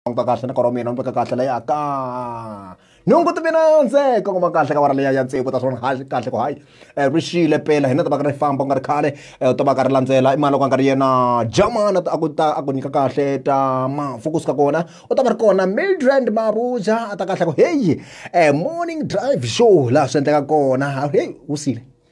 languta kahle na kora mina ni veka kahle leya ka nhungu ti mina ndzeka kuma kahle ka vara leya ya ntsiko ta swona hayi kahle ku hayi eh, ri xile pela hina ta va ka ri famba ku nga ri khale eh, u ta va ka ri landzela i mali ku nga ri yena jamana a ku ta a ku nyika kahle ta mafu kusuka kona u ta va ri kona mildrand mabuja a ta kahle ku heyi eh, morning drive show laha swi endleka kona heyi wu sile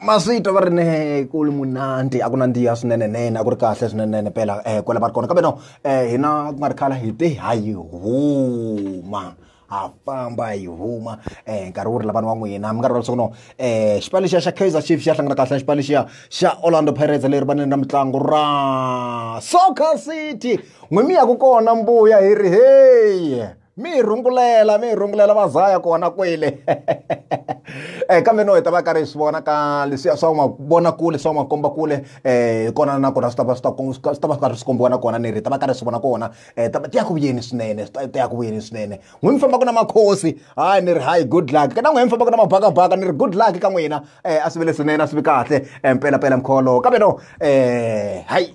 maswita va ri ne ku li munandi a ku nandziha swinene nene a ku ri kahle swinene nene pela um eh, kwela va ri kona kambe no um hina ku nga ri khala hi te ha yi huma ha famba hi huma um nkarhi wu ri lavana wa n'wina mi nga rivala leswaku no um xipano lexiya xa kaizer chief xi ya hlangana kahle na xipano lexiya xa orlando pirates leri vaneni ra mitlangu ra soccer city n'wi mi yaku kona mbuya hi ri heyi mi hi rungulela mi hi rungulela va zaya kona kwele um kambe no hi ta va karhi hi swi vona ka leswiya swa mavonakule swa makombakule um eh, hi kona na kona swi ta va swi ta swi ta va swi karhi swi kombiwa na kona ni ri hi ta va karhi hi swi vona kona um ta ya ku vuyeni swinene ta ya ku vuyeni swinene n'wi mi fambaka na makhosi hayi ni ri hayi good luck ka na n'wi mi fambaka na mabakabaka ni ri good luck ka n'wina um a swi vele swinene a swi vi kahle um pelapela mkholo kambe no um hayi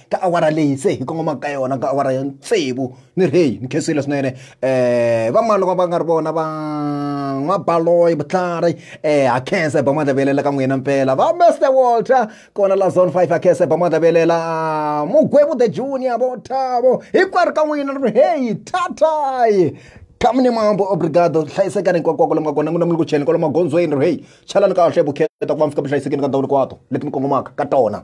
ka awara leyi se hi kongomaka ka yona ka awara ya tsevu ni ri heyi ni khensile swinene um vamani loko va nga ri vona va n'wabaloyi vutlhari um ha khensa hi ba madlavelela ka n'wina mpela va mester walter kona la zone five ha khensa hi ba madlavelela mugwevu the junior vo thavo hinkwerhu ka n'wina ni ri heyi thatayi kami ni mambo obrigado hlayisekani hinkwakwako lomu nga kona n'wina mi ku cheni kwalomu magondzweni ri heyi chalani kahle vukheta ku va mi fika mi hlayisekeni ka ndhawu hinkwato leti mi kongomaka ka tona